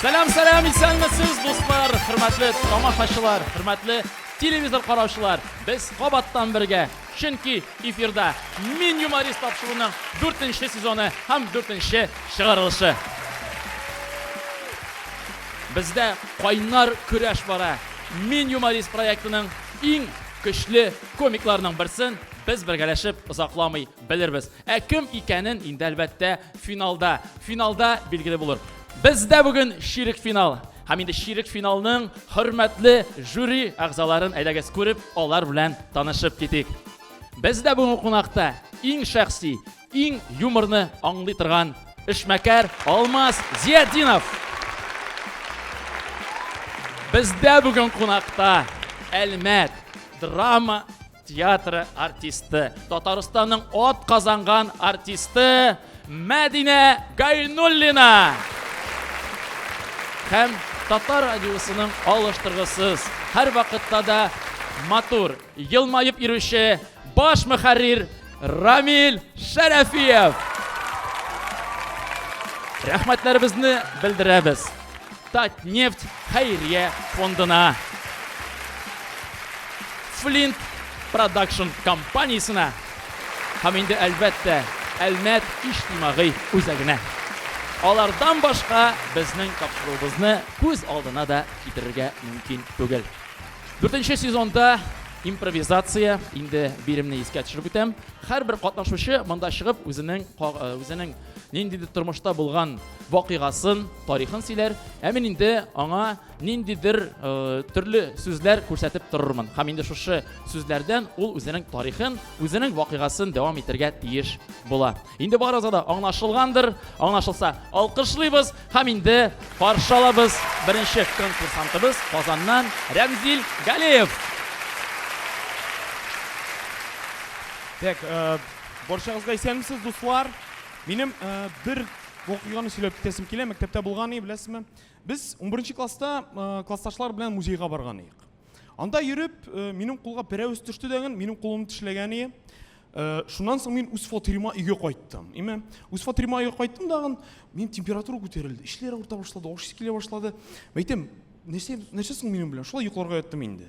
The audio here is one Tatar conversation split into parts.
Сәлам, сәлам, исәнмесез, дуслар, хөрмәтле тамашачылар, хөрмәтле телевизор караучылар. Без кабаттан бергә, чөнки эфирда Мин юморист тапшыруының 4нче сезоны һәм 4нче чыгарылышы. Бездә кайнар көрәш бара. Мин юморист проектының иң көчле комикларының берсен без бергәләшеп озакламый белербез. Ә кем икәнен инде әлбәттә финалда, финалда билгеле булыр. Бездә бүген ширек финал. Һәм инде ширек финалның хөрмәтле жюри әгъзаларын әйдәгез күреп, алар белән танышып китик. Бездә бүгенге кунакта иң шәхси, иң юморны аңлый торган эшмәкәр Алмаз Зиятдинов. Бездә бүген кунакта Әлмәт драма театры артисты, Татарстанның от казанган артисты Мәдинә Гайнуллина. Һәм Татар радиосының алыштыргысыз, һәр вакытта да матур, елмаеп йөрүче баш мөхәррир Рамил Шәрәфиев! Рәхмәтләребезне белдерәбез. Татнефть хәйрия фондына. Флинт продакшн компаниясенә һәм инде әлбәттә Әлмәт иҗтимагый үзәгенә. Алардан башка безнең тапшыруыбызны күз алдына да китерергә мөмкин түгел. Дүртенче сезонда импровизация, инде биремне искә төшереп үтәм, һәрбер катнашучы монда чыгып үзенең үзенең ниндидер тормышта булган вакыйгасын, тарихын сөйләр, ә мин инде аңа ниндидер төрле сүзләр күрсәтеп торырмын. Һәм инде шушы сүзләрдән ул үзенең тарихын, үзенең вакыйгасын дәвам итәргә тиеш була. Инде барысы да аңлашылгандыр. Аңлашылса, алкышлыйбыз һәм инде каршы алабыз беренче конкурсантыбыз Казаннан Рәмзил Галеев. Так, э, барчагызга исәнмесез, дуслар. Минем э, бер вакыйганы сөйләп китәсем килә. Мәктәптә булган иде, беләсезме? Без 11 класста э, классташлар белән музейга барган идек. Анда йөреп, э, минем кулга пәрәвез төште дәген, минем кулым тешләгән ие. Э, шуннан соң мин үз фатирыма өйгә кайттым. Име, үз фатирыма өйгә кайттым дагын, мин температура күтәрелде, эшләр авырта башлады, ашыйсы килә башлады. Мәйтем, нәрсә, нәрсә соң минем белән? Шулай йокларга яттым инде.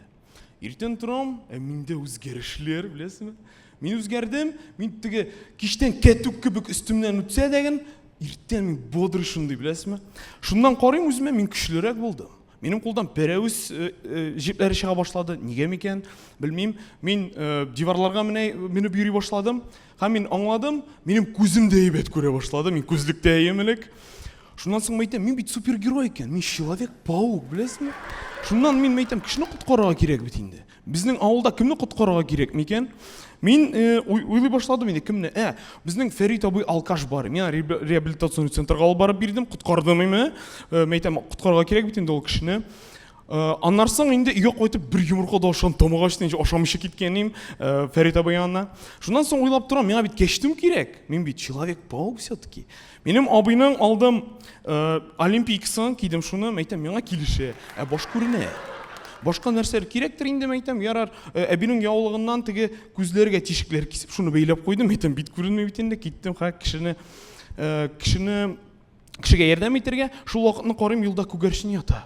Иртен торам, ә миндә үзгәрешләр, беләсезме? Мин үзгәрдем, мин теге киштән кәтүк кебек өстемнән үтсә дәген, иртән мин бодрый шундый, беләсезме? Шуннан карыйм үземә, мин көчлерәк булдым. Минем кулдан пәрәвез э, э, җепләре чыга башлады. Нигә микән? Белмим. Мин э, диварларга менә менеп йөри башладым. Һәм мин аңладым, минем күзем дә әйбәт күрә башлады. Мин күзлектә әйем элек. Шуннан соң мәйтәм, мин бит супергерой икән. Мин человек-паук, беләсеңме? Шуннан мин мәйтәм, кешене коткарырга кирәк бит инде. Безнең авылда кемне коткарырга кирәк микән? Мин э, уйлый башладым инде, кемне? Ә, безнең Фәрит абый алкаш бар. Мин реабилитационный центрга алып барып бирдем, коткардым име? Э, Мә әйтәм, коткарырга кирәк бит инде ул кешене. Э, аннан соң инде өйгә кайтып бер йомырка да ашам тамагы ачты инде ашамыйча киткәнем э, фәрит абый янына шуннан соң уйлап торам миңа бит кәчтүм кирәк мин бит человек паук все таки Минем абыйның алдым э, олимпийкасын кидем шуны, мәйтәм, миңа килешә, ә баш күренә. Башка нәрсәләр кирәктер инде, мәйтәм, ярар, э, әбинең яулыгыннан теге күзләргә тишекләр кисеп, шуны бәйләп куйдым, мәйтәм, бит күренми бит инде, киттем, ха, кешене, э, кешене, кешегә ярдәм итәргә, шул вакытны карыйм, юлда күгәрчен ята.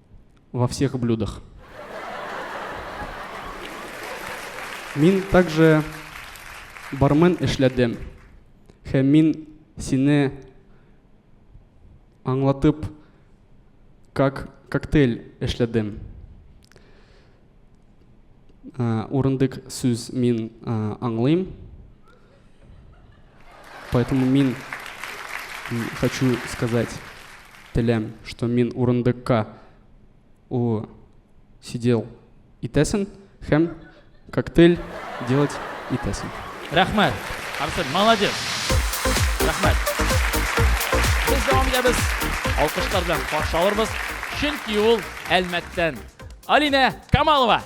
во всех блюдах. Мин также бармен эшләдем. Һәм мин сине аңлатып как коктейль эшләдем. Урындык сүз мин аңлыйм. Поэтому мин хочу сказать теләм, что мин урындыкка у сидел итәсен һәм коктейль делать итәсен. Рәхмәт. Арсен, молодец. Рәхмәт. Без дәвам итәбез. Алкышлар белән каршы алырбыз. Чөнки ул Әлмәттән. Алина Камалова.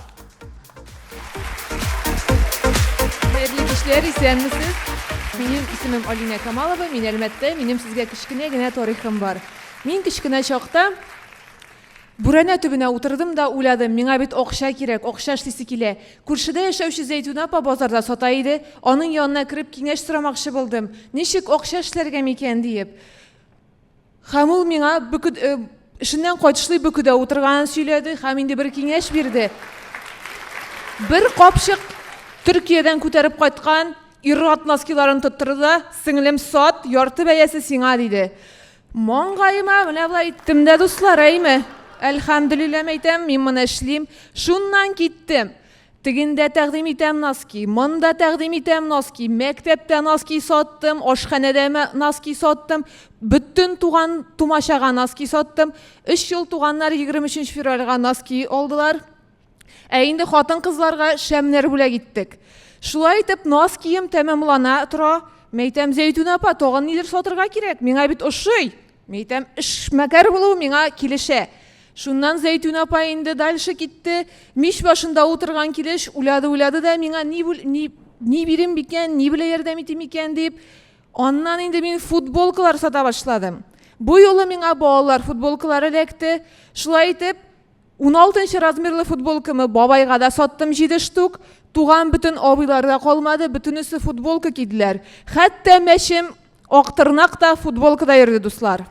Хәерле кичләр, исәнмесез. Минем исемем Алина Камалова, мин Әлмәттә, минем сезгә кечкенә генә тарихым бар. Мин кечкенә чакта Бүрәнә төбенә утырдым да уйладым, миңа бит акча кирәк, акча эшлисе килә. Күршедә яшәүче Зәйтүнә апа базарда сата иде, аның янына кереп киңәш сорамакчы булдым. Ничек акча эшләргә микән диеп. Һәм ул миңа бөкү эшеннән кайтышлый бөкүдә утырганын сөйләде һәм инде бер киңәш бирде. Бер капчык Төркиядән күтәреп кайткан ир-ат носкиларын тоттырды да, сеңлем, сат, ярты бәясе сиңа, диде. Маңгаема менә болай иттем дә, дуслар, әйме? Әлхәмдүлилләме әйтәм, мин моны эшлим. Шуннан киттем. Тегендә тәкъдим итәм носки, монда тәкъдим итәм носки, мәктәптә носки саттым, ашханәдә носки саттым, бөтен туган тумачага носки саттым. Өч ел туганнар 23 февральга носки алдылар. Ә инде хатын-кызларга шәмнәр бүләк иттек. Шулай итеп, нос кием тәмамлана тора. Мәйтәм, Зәйтүнә апа, тагын нидер сатырга кирәк, миңа бит ошый. Мин әйтәм, эшмәкәр булу миңа килешә. Шуннан Зәйтүн апа инде дальше китте. Мич башында утырган килеш уйлады-уйлады да миңа ни, ни, ни бирим бикән, ни белә ярдәм итим икән дип, аннан инде мин футболкалар сата башладым. Бу юлы миңа балалар футболкалары эләкте. Шулай итеп, Уналтынчы размерлы футболкамы бабайга да саттым җиде штук. Туган бөтен абыйлар да калмады, бөтенесе футболка киделәр. Хәтта мәчем Актырнак та футболкада йөрде, дуслар.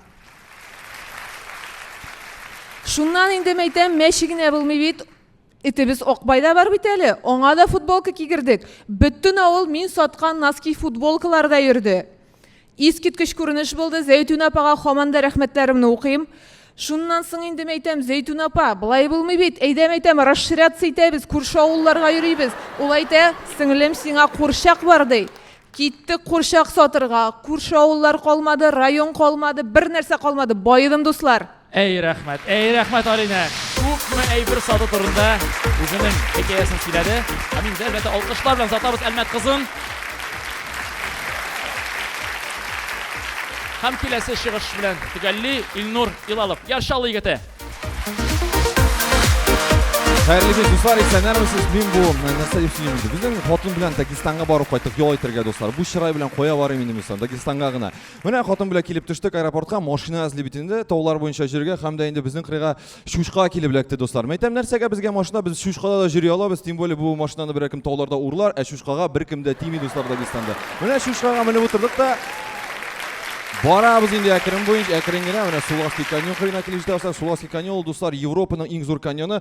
Шуннан инде мәйтәм, мәче генә булмый бит, Итебез Акбай да бар бит әле, аңа да футболка кигердек. Бөтен авыл мин саткан носки футболкаларда йөрде. Искиткеч күренеш булды. Зәйтүнә апага хаман да рәхмәтләремне укыйм. Шуннан соң инде мәйтәм, Зәйтүнә апа, былай булмый бит. Әйдә мәйтәм, расширяться итәбез, күрше авылларга йөрибез. Ул әйтә, сеңлем, сиңа курчак бар, ди. Киттек курчак сатырга. Күрше авыллар калмады, район калмады, бернәрсә калмады. Баедым, дуслар. Әй рәхмәт, әй рәхмәт Алинә! Күпме әйбер сату турында үзенең хикәясен сөйләде. Һәм инде әлбәттә алкышлар белән озатабыз Әлмәт кызын. Һәм киләсе чыгыш белән төгәлли Илнур Илалов, Яр Чаллы егете. Хәерле кич, дуслар, исәннәрмесез? Мин бу нәрсә дип сөйлим инде. Безнең хатын белән Дагестанга барып кайттык ял итәргә, дуслар. Бу чырай белән кая барыйм инде мин соң, Дагестанга гына. Менә хатын белән килеп төштек аэропортка, машина эзли бит инде, таулар буенча җиргә һәм дә инде безнең кырыйга Шушка килеп эләкте, дуслар. Мәйтәм, нәрсәгә безгә машина? Без Шушкада да җөри алабыз, тем более бу машинаны берәр кем тауларда урлар, ә Шушкага бер кем дә тими, дуслар, Дагестанда. Менә Шушкага менеп утырдык та Барабыз инде әкрен буенча, әкрен генә, менә Суласки каньон кырыена килеп җитә, дуслар. Суласки каньон, дуслар, Европаның иң зур каньоны.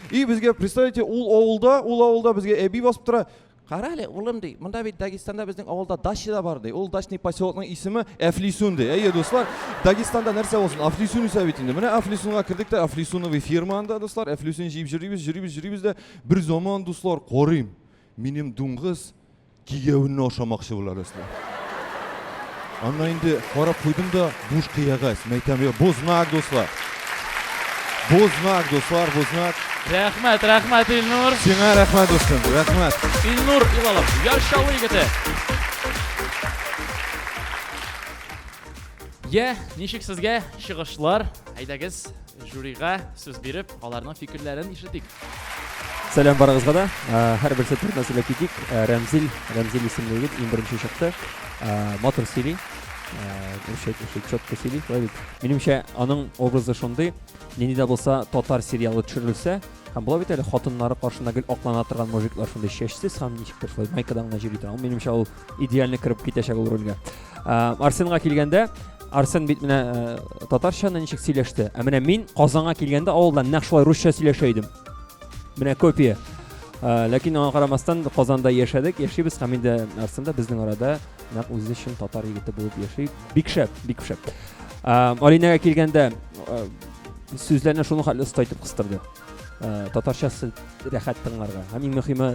И безгә представьте ул авылда ул авылда безгә әби басып тора кара әле улым ди монда бит дагестанда безнең авылда дача да бар ди ул дачный поселокның исеме әфлисун ди әйе дуслар дагестанда нәрсә булсын әфлисун үсә бит инде менә әфлисунга кердек тә әфлисуновый фирма анда дуслар әфлисун җыеп җөрибез җөрибез җөрибез дә бер заман дуслар карыйм минем дуңгыз Кияүне ашамакчы була Рәслә. Анна инде карап куйдым да, буш кыягәз. Мәйтәм, я, бу знак, дуслар. Бу знак, дуслар, бу знак. Рәхмәт, рәхмәт, Илнур. Сиңа рәхмәт, дустым, рәхмәт. Илнур Илалов, Яр Чаллы егете. Я, ничек сезгә чыгышлар? Әйдәгез, Жюрига сүз биреп, аларның фикерләрен ишетик. Сәлам барыгызга да. Һәрберсе турында сөйләп китик. Рәмзил, Рәмзил исемле егет иң беренче чыкты. Матур сөйли. Үрчәк, үрчәк, чотко сөйли. Шулай бит. Минемчә, аның образы шундый, нинди дә булса татар сериалы төшерелсә, һәм була бит әле хатыннары каршында гел аклана торган мужиклар шундый чәчсез һәм ничектер шулай майкадан гына йөри торган. Минемчә, ул идеально кереп китәчәк ул рольгә ә, арсенга килгәндә арсен бит менә ә, татарчаны ничек сөйләште ә менә мин казанга килгәндә авылда нәкъ шулай русча сөйләшә идем менә копия ә, ләкин аңа карамастан казанда яшәдек яшибез һәм инде арсен да безнең арада нәкъ үзе өчен татар егете булып яши бик шәп бик шәп ә, алинәгә килгәндә ә, сүзләрне шуның хәтле оста итеп кыстырды ә, татарчасы рәхәт тыңларга һәм иң мөһиме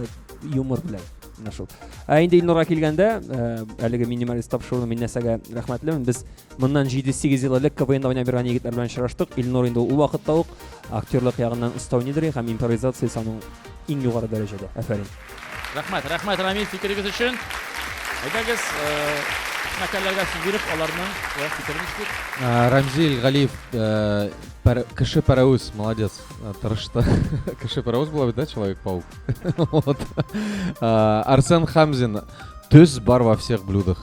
юмор белән Менә шул. Ә инде Илнурга килгәндә, э, әлеге минималист тапшыруны мин нәрсәгә рәхмәтлемен. Без моннан 7-8 ел элек КВНда уйнап йөргән егетләр белән очраштык. Илнур инде ул вакытта ук актерлык ягыннан оста уйныйдыр һәм импровизация саның иң югары дәрәҗәдә. Афәрин. Рәхмәт, рәхмәт Рамил фикерегез өчен. Әйдәгез, э, мәкаләләргә сүз биреп, аларның э, фикерен ишетик. Э, Рамзил Галиев, э, пар- кеше паровоз, молодец, э, тырышты. Кеше паровоз була бит, да, Человек-паук? Арсен Хамзин, төз бар во всех блюдах.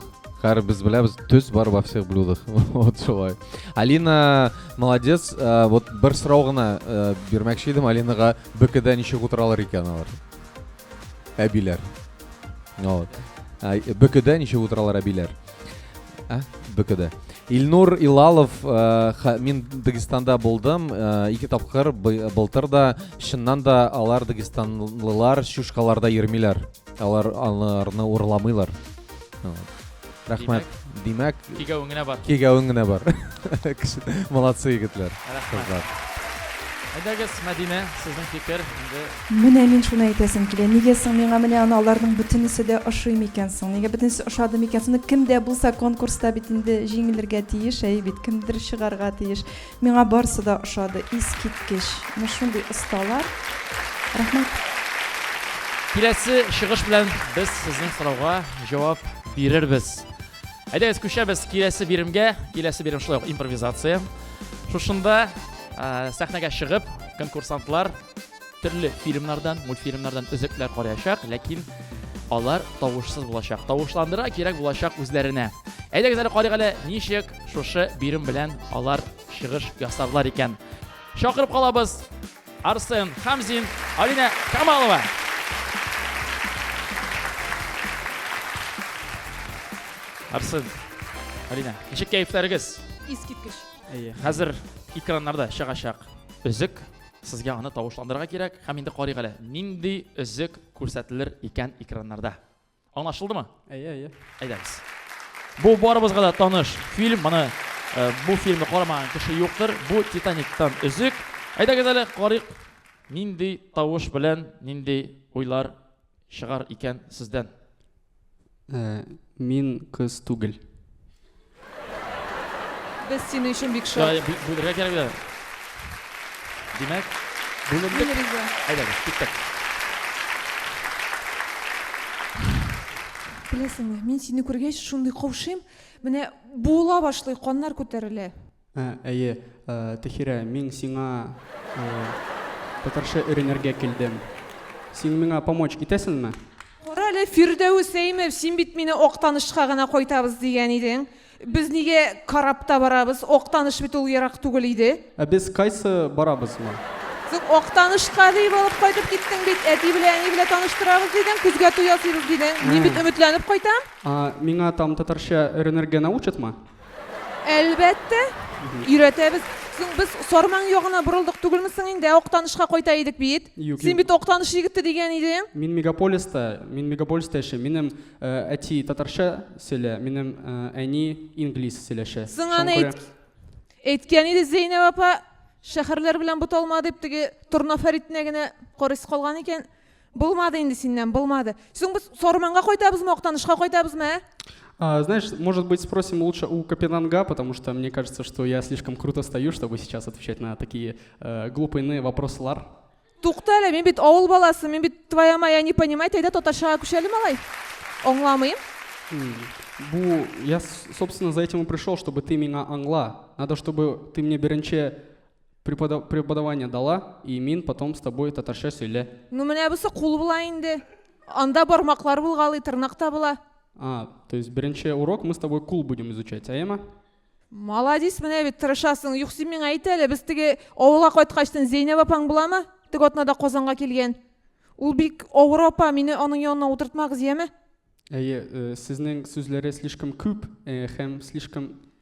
Хәр без беләбез, төз бар во всех блюдах. Вот шулай. Алина, молодец. Вот бер сорау гына бирмәкче идем Алинага, БКД ничек утыралар икән алар? Әбиләр. Вот. БКД ничек утыралар әбиләр? Ә? БКД. Илнур Илалов, э, ха- мин Дагестанда булдым, э, ике тапкыр бы- былтыр да, чыннан да алар дагестанлылар чушкаларда йөрмиләр. Алар аларны урламыйлар. Вот. Рәхмәт. Димәк, Кигәвең генә бар. кигәвең генә бар. Кеше- Молодцы егетләр. Рәхмәт. Кызлар. Әйдәгез, Мәдинә, сезнең фикер. Инде Менә мин шуны әйтәсем килә, нигә соң миңа менә аны аларның бөтенесе дә ошый микән соң? Нигә бөтенесе ошады микән соң? Ну, кем дә булса конкурста бит инде җиңелергә тиеш, әйе бит, кемдер чыгарга тиеш. Миңа барысы да ошады, искиткеч! Менә шундый осталар. Рәхмәт! Киләсе чыгыш белән без сезнең сорауга җавап бирербез. Әйдәгез, күчәбез киләсе биремгә. Киләсе бирем шулай ук импровизация. Шушында сәхнәгә чыгып, конкурсантлар, Төрле фильмнардан, мультфильмнардан өзекләр караячак, ләкин алар тавышсыз булачак. Тавышландыра кирәк булачак үзләренә. Әйдәгез әле карыйк әле, ничек шушы бирем белән алар чыгыш ясарлар икән. Чакырып калабыз Арсен Хамзин, Алина Камалова. Арсен, Алина, ничек кәефләрегез? Искиткеч. Әйе, хәзер экраннарда чыгачак. Өзек Сезгә аны тавышландырырга кирәк һәм инде карыйк әле, нинди өзек күрсәтелер икән экраннарда. Аңлашылдымы? Әйе, әйе. Әйдәгез. Бу барыбызга да таныш фильм. Моны э, бу фильмны карамаган кеше юктыр. Бу Титаниктан өзек. Әйдәгез әле карыйк, нинди тавыш белән, нинди уйлар чыгар икән сездән? Ә, мин кыз түгел. Без синең өчен бик шат. Шулай бүлергә кирәк бит. Димәк, бүлендек. Әйдәгез, киттек. Беләсеңме, мин сине күргәч, шундый каушыйм, менә буыла башлый, каннар күтәрелә. Ә, әйе, ә, Тәхирә, мин сиңа ә, татарча өйрәнергә килдем. Син миңа помочь итәсеңме? Кара әле, Фирдәвес Әймев, син бит мине Актанышка гына кайтабыз дигән идең. Без нигә корабта барабыз? Актаныш бит ул ерак түгел иде. Ә без кайсы барабызмы? Соң Актанышка дип алып кайтып киттең бит. Әти белән әни белән таныштырабыз дидең, көзгә туй ясыйбыз дидең. Мин бит өметләнеп кайтам. А, миңа там татарча өйрәнергә научатмы? Әлбәттә, өйрәтәбез. Соң без Сарман ягына борылдык түгелме соң инде? Актанышка кайта идек бит. Юк, Син юк. бит Актаныш егете дигән идең. Мин мегаполиста, мин мегаполиста яшим. Минем э, әти татарча сөйлә, минем э, әни инглиз сөйләшә. Соң Шуңа аны күрә- әйт... әйткән иде Зәйнәб апа, шәһәрләр белән буталма дип, теге Торна Фәритенә генә карыйсы калган икән. Булмады инде синнән, булмады. Соң без Сарманга кайтабызмы, Актанышка кайтабызмы, ә? А, знаешь, может быть, спросим лучше у Капенанга, потому что мне кажется, что я слишком круто стою, чтобы сейчас отвечать на такие э, глупые вопросы, Лар. Тукта әле, мин бит авыл баласы, мин бит твоя моя не понимать, әйдә татарчага күчәле малай. Аңламыйм. Бу, я, собственно, за этим и пришел, чтобы ты меня англа. Надо, чтобы ты мне беренче Преподав, преподавание дала, и мин потом с тобой татарча сөйлә. Ну менә бусы кул була инде. Анда бармаклар булгалый, тырнак та була. А, то есть беренче урок мы с тобой кул будем изучать, әйеме? Молодец, менә бит тырышасың. Юк, син миңа әйт әле, без теге авылга кайткачтын Зәйнәб апаң буламы? Теге атнада Казанга килгән. Ул бик авыр апа, мине аның янына утыртмагыз, яме? Әйе, э, сезнең сүзләре слишком күп э, һәм слишком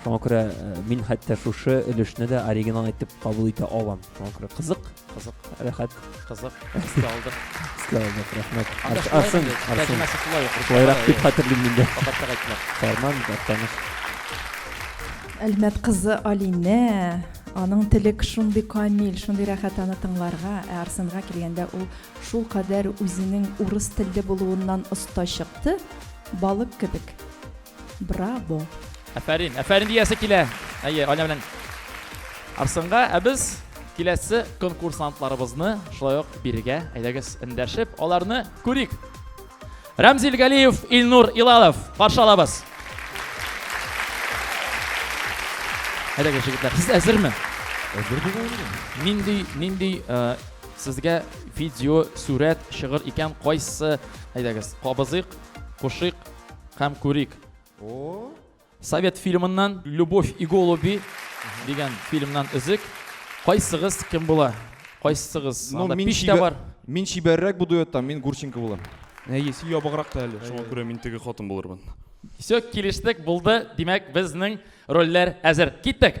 Шуңа күрә э, мин хәтта шушы өлешне дә оригинал итеп кабул итә алам. Шуңа күрә кызык, кызык, рәхәт. Кызык, истә алдык. Истә алдык, рәхмәт. Арсын, арсын. Шулайрак дип хәтерлим мин дә. Фәрман, таныш. Әлмәт кызы Алинә, аның телек шундый камил, шундый рәхәт аны тыңларга, ә Арсынга килгәндә ул шул кадәр үзенең урыс телле булуыннан оста чыкты, балык кебек. Браво! Афәрин, афәрин диясе килә. Әйе, Аня белән Арсынга, ә без киләсе конкурсантларыбызны шулай ук бирегә әйдәгез эндәшеп, аларны күрик. Рәмзил Галиев, Илнур Илалов, каршы алабыз. Әйдәгез, җегетләр, сез әзерме? Әзер дигән. Нинди, нинди э, сезгә видео, сурәт, шигырь икән, кайсы, әйдәгез, кабызыйк, кушыйк, Һәм күрик. О! Совет фильмыннан Любовь и голуби дигән фильмнан өзек. Кайсыгыз кем була? Кайсыгыз? Ну, Анда мин пич тә чибәр- бар. Мин чибәррәк бу дуэттан, мин Гурченко булам. Әйе, син ябыграк та әле. Шуңа күрә мин теге хатын булырмын. Все, килештек, булды. Димәк, безнең рольләр әзер. Киттек!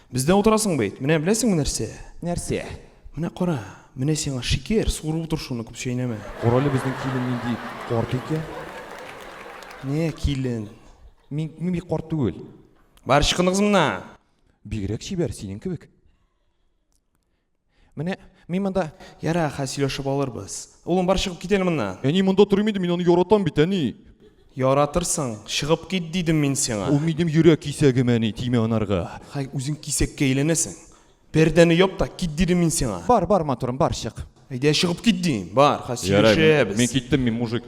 Бездә утырасың бит. Менә беләсеңме нәрсә? Нәрсә? Менә кара, менә сиңа шикер, суырып утыр шуны, күп чәйнәмә. Карале безнең килен нинди карт икән. Не килен? Мин, мин бик карт түгел. Бар, чыкыныгыз моннан! Бигрәк чибәр, синең кебек. Менә мин монда... Ярар, хәзер сөйләшеп алырбыз. Улым, бар чыгып кит әле моннан. Әни, монда тормый инде, мин аны яратам бит, әни. Яратырсың, чыгып кит дидем мин сиңа. Ул минем йөрәк кисәгем, әни, тимә анарга. Хәй, үзең кисәккә әйләнәсең. Пәрдәне яп та кит дидем мин сиңа. Бар, бар, матурым, бар, чык. Әйдә, чыгып кит дим. Бар, хәзер сөйләшәбез. Ярар, мин киттем, мин мужик.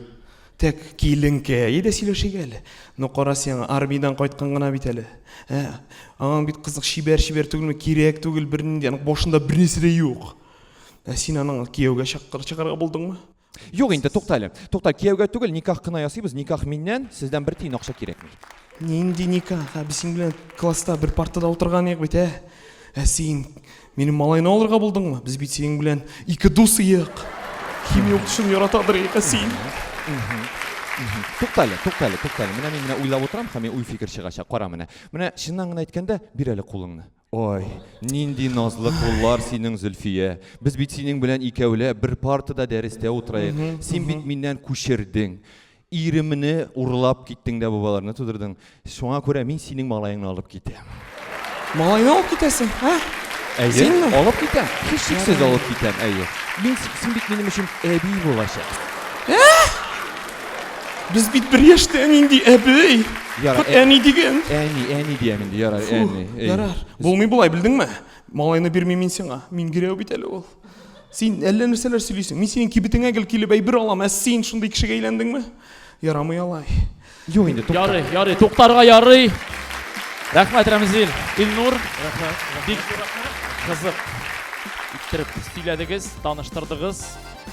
Тәк киленкәе дә сөйләшик әле. Ну кара син, армиядән кайткан гына бит әле. Ә, аңа бит кызык чибәр-чибәр түгелме, кирәк түгел бернинди, аның башында бернәрсә дә юк. Ә син аның кияүгә чакыр чыгарга булдыңмы? Юк инде, тукта әле. Тукта, кияүгә түгел, никах кына ясыйбыз, никах миннән, сездән бер тиен акча кирәкми. Нинди никах? Ә без синең белән класста бер партада утырган идек бит, ә? Ә син Минем малайны алырга булдыңмы? Без бит синең белән ике дус иек. Химия укытучын яратадыр ике син. Туктале, туктале, туктале. Менә мин менә уйлап утырам, һәм мин уй фикер чыгачак. Кара менә. Менә чыннан гына әйткәндә, бир әле кулыңны. Ой, нинди назлы куллар синең, Зөлфия. Без бит синең белән икәүләп бер партада дәрестә утыраек. Син бит миннән күчердең. Иремне урлап киттең дә бу балаларны тудырдың. Шуңа күрә мин синең малаеңны алып китәм. Малайны алып китәсең, ә? Әйе, Синме? алып китәм. Һичшиксез алып китәм, әйе. Мин син бит минем өчен әби булачак. Ә? Без бит бер яшьтә нинди әби? Ярар, ә... әни диген. Әни, әни диям инде, ярар, әни. Ярар. Булмый болай, белдеңме? Малайны бирмим мин сиңа. Мин гирәү бит әле ул. Син әллә нәрсәләр сөйлисең. Мин синең кибетеңә гел килеп әйбер алам, ә син шундый кешегә әйләндеңме? Ярамый алай. Юк инде, тукта. Ярый, ярый, туктарга ярый. Рәхмәт, Рәмзил. Илнур. Рәхмәт. Бик кызык иттереп сөйләдегез, таныштырдыгыз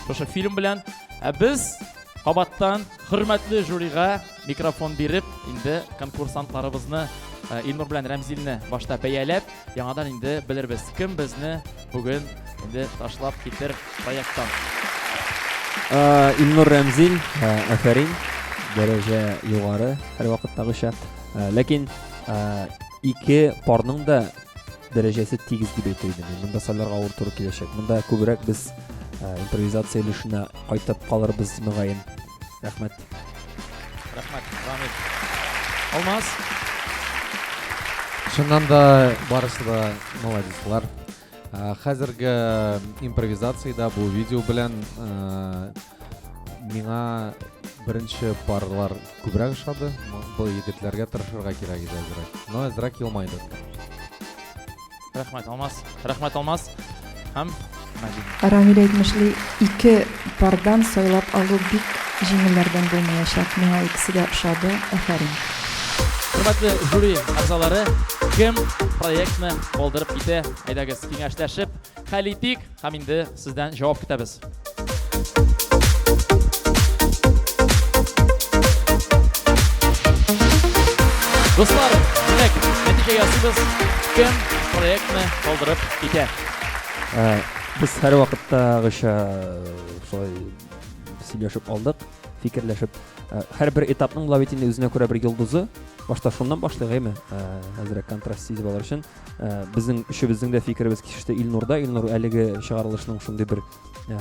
шушы фильм белән. Ә без кабаттан хөрмәтле жюрига Микрофон биреп, инде конкурсантларыбызны Илнур белән Рәмзилне башта бәяләп, яңадан инде белербез, кем безне бүген инде ташлап китер проекттан. Илнур Рәмзил, афәрин, дәрәҗә югары, һәрвакыттагыча. Ләкин ике парның да дәрәҗәсе тигез дип әйтер идем. Монда сайларга авыр туры киләчәк. Монда күбрәк без импровизация өлешенә кайтып калырбыз, мөгаен. Рәхмәт. Рәхмәт, Рамил. Алмаз. Шуннан да барысы да молодецлар. Хәзерге импровизациядә бу видео белән миңа беренче парлар күбрәк ошады. Бу егетләргә тырышырга кирәк иде әзрәк. Но әзрәк елмайды. Рәхмәт, Алмаз. Рәхмәт, Алмаз. Һәм Мәдинә. Рамиль әйтмешли, ике пардан сайлап алу бик җиңелләрдән булмаячак. Миңа икесе дә ошады. Афәрин. Хөрмәтле жюри әгъзалары, кем проектны калдырып китә? Әйдәгез, киңәшләшеп хәл итик һәм инде Сездән җавап көтәбез. Дуслар, димәк, нәтиҗә ясыйбыз. Кем проектны калдырып китә? Без һәрвакыттагыча шулай сөйләшеп алдык, фикерләшеп. Һәрбер этапның ла бит инде үзенә күрә бер йолдызы. Башта шуннан башлыйк, әйме? Әзрәк контраст сизеп алыр өчен. ә, безнең өчебезнең дә фикеребез кисеште илнурда илнур әлеге чыгарылышның шундый бер ә,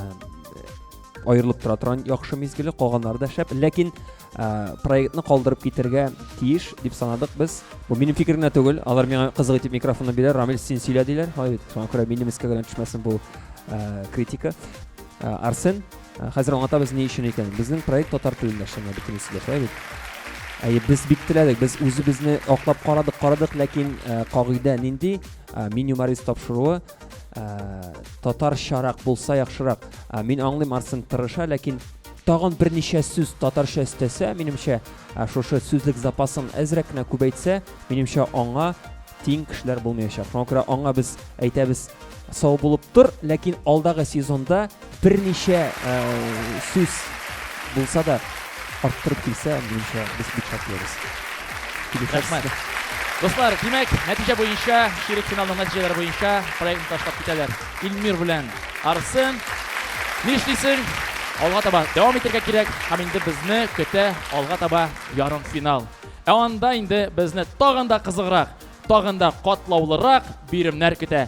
аерылып тора торган яхшы мизгеле калганнары да шәп ләкин ә, проектны калдырып китергә тиеш дип санадык без бу минем фикерем генә түгел алар миңа кызык итеп микрофонны бирә рамил син сөйлә диләр шуңа күрә минем өскә генә төшмәсен бу ә, критика ә, арсен Хәзер аңлатабыз ни өчен икәнен. Безнең проект татар телендә эшләнгән бөтен сөйләшә бит. Әйе, без бик теләдек, без үзебезне аклап карадык, карадык, ләкин э, кагыйдә нинди? Э, меню Марис тапшыруы э, татарчарак булса яхшырак. Э, мин аңлыйм, Арсен тырыша, ләкин тагын берничә сүз татарча өстәсә, минемчә, э, шушы сүзлек запасын әзрәк кенә күбәйтсә, минемчә, аңа тиң кешеләр булмаячак. Шуңа күрә аңа без әйтәбез, сау булып тор, ләкин алдагы сезонда Берничә э, сүз булса да арттырып килсә, минемчә, без бик шатлырбыз. Рәхмәт. Дуслар, димәк, нәтиҗә буенча, ширек финалның нәтиҗәләре буенча проектны ташлап китәләр. Илмир белән Арсен. Нишлисең? Алга таба дәвам итәргә кирәк. Һәм инде безне көтә алга таба ярым финал. Ә анда инде безне тагын да кызыграк, тагын да катлаулырак биремнәр көтә.